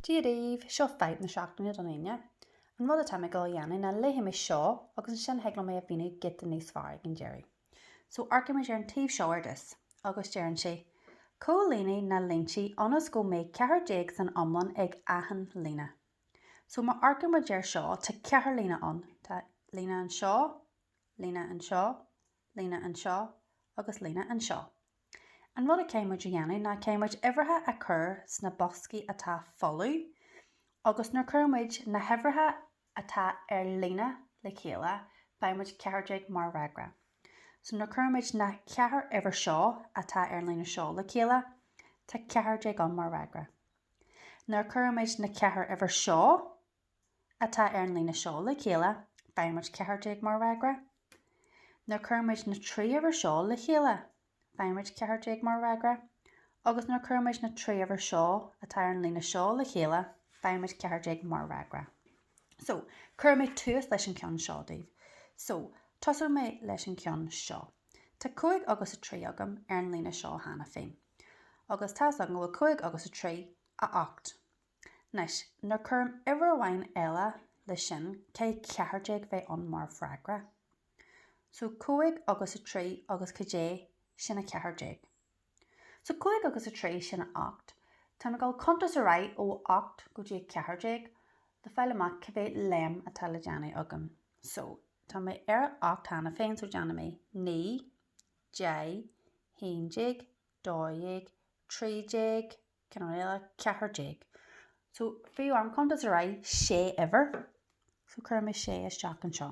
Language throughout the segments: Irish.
Dia daoibh, seo fadhb na seachtaine don Aoine. An rud atá mé ag gabháil a dhéanamh ná léifidh mé seo agus ansin thig liom é a mhíniú giota níos fearr ag an deireadh. So amharcóimid ar an taobh seo ar dtús. Agus deireann sé, Comhlánaigh na línte ionas go mbeidh ceathair déag san iomlán ag achan líne. So má amharcaimid ar seo tá ceithre líne ann, tá líne anseo, líne anseo, líne anseo agus líne anseo. An rud a chaithfimid a dhéanamh ná caithfimid uimhreacha a chur sna boscaí atá folamh agus nuair a chuirimid na huimhreacha atá ar líne le chéile faighimid ceathair déag mar fhreagra. So nuair a chuirimid na ceithre uimhir seo atá ar an líne seo le chéile tá ceathair déag ann mar fhreagra. Nuair a chuirimid na ceithre uimhir seo atá ar an líne seo le chéile, faighimid 14 mar fhreagra. Nuair a chuirimid na trí uimhir seo le chéile, faighimid 14 mar fhreagra. Agus nuair a chuirimid na trí uimhir seo atá ar an líne seo le chéile, faighimid 14 mar fhreagra. So, cuirfidh mé tús leis an cheann seo daoibh. So, tosóidh mé leis an cheann seo. Tá 5 agus 3 agam ar an líne seo cheana féin. Agus tá's agam go bhfuil 5 agus 3, a 8. Anois, nuair a chuirim uimhir amháin eile leis sin, caithfidh ceathair déag bheith ann mar fhreagra. So, cúig agus a trí agus cad é? Sin a ceathair déag. So, cúig agus a trí, sin a ocht. Tá mé ag gabháil a chuntas ar aghaidh ó a ocht go dtí a ceathair déag le fáil amach cá mhéad léim atá le déanamh agam. So, tá mé ar a ocht cheana féin, so déanfaidh mé naoi, deich, haon déag, dó dhéag, trí déag, Ceann eile, ceathair déag. So, bhí orm cuntas ar aghaidh, sé uimhir. So, cuirfidh mé sé isteach anseo.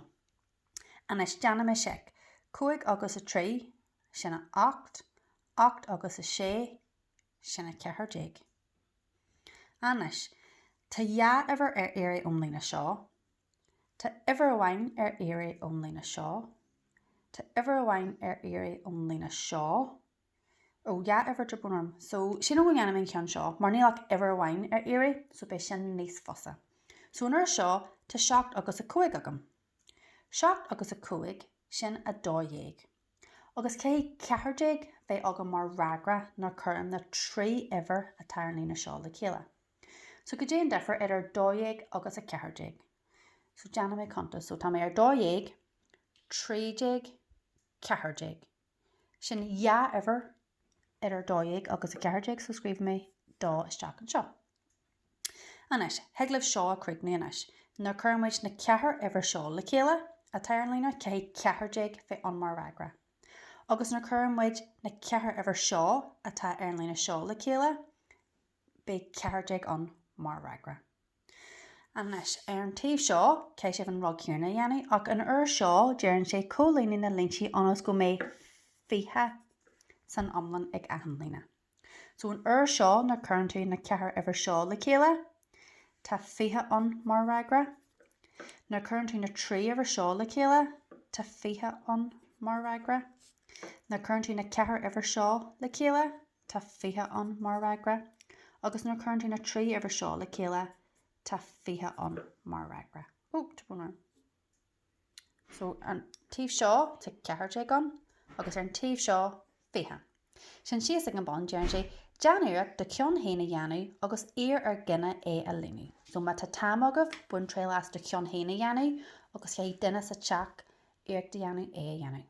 Anois, déanfaidh mé seic. Cúig agus a trí, sin a ocht. Ocht agus a sé, sin a ceathair déag. Anois, tá dhá uimhir ar iarraidh ón líne seo. Tá uimhir amháin ar iarraidh ón líne seo. Tá uimhir amháin ar iarraidh ón líne seo. Ó, dhá uimhir de bharr. So, sin, ó, déanfaidh mé an ceann seo, mar níl ach uimhir amháin ar iarraidh, so beidh sin níos fusa. So, an uair seo, tá seacht agus a cúig agam. Seacht agus a cúig, sin a dó dhéag. Agus caithfidh ceathair déag bheith agam mar fhreagra nuair a chuirim na trí uimhir atá ar an líne seo le chéile. So, cad é an difear idir dó dhéag agus a ceathair déag? So, déanfaidh mé cuntas. So, tá mé ar dó dhéag, trí déag, ceathair déag. Sin an uimhir idir 12 agus 14 so scríobh mé 2 isteach anseo. Anois, thig libh seo a chríochnú anois. Nuair a chuireann muid na ceithre uimhir seo le chéile atá ar an líne caithfidh 14 bheith ann mar fhreagra. Agus nuair a chuireann muid na ceithre uimhir seo atá ar an líne seo le chéile beidh 14 ann mar fhreagra. Anois, ar an taobh seo, caithfidh sibh an rud céanna a dhéanamh, ach an uair seo deireann sé comhlíon na línte ionas go mbeidh fiche san iomlán ag achan líne. So an uair seo nuair cuireann tú na ceithre uimhir seo le chéile, tá fiche ann mar fhreagra. Nuair cuireann tú na trí uimhir seo le chéile, tá fiche ann mar fhreagra. Nuair cuireann tú na ceithre uimhir seo le chéile, tá 20 ann mar fhreagra, agus nuair a chuireann tú na trí uimhir seo le chéile, tá 20 ann mar fhreagra. Oh, tá brón orm. So, an taobh seo, tá 14 ann, agus ar an taobh seo, 20. Sin síos ag an bun, deireann sé, Déan iarracht do cheann féin a dhéanamh agus iarr ar dhuine é a líonadh. So, má tá an t-am agaibh, bain triail as do cheann féin a dhéanamh, agus caithfidh duine sa teach iarracht a dhéanamh é a dhéanamh.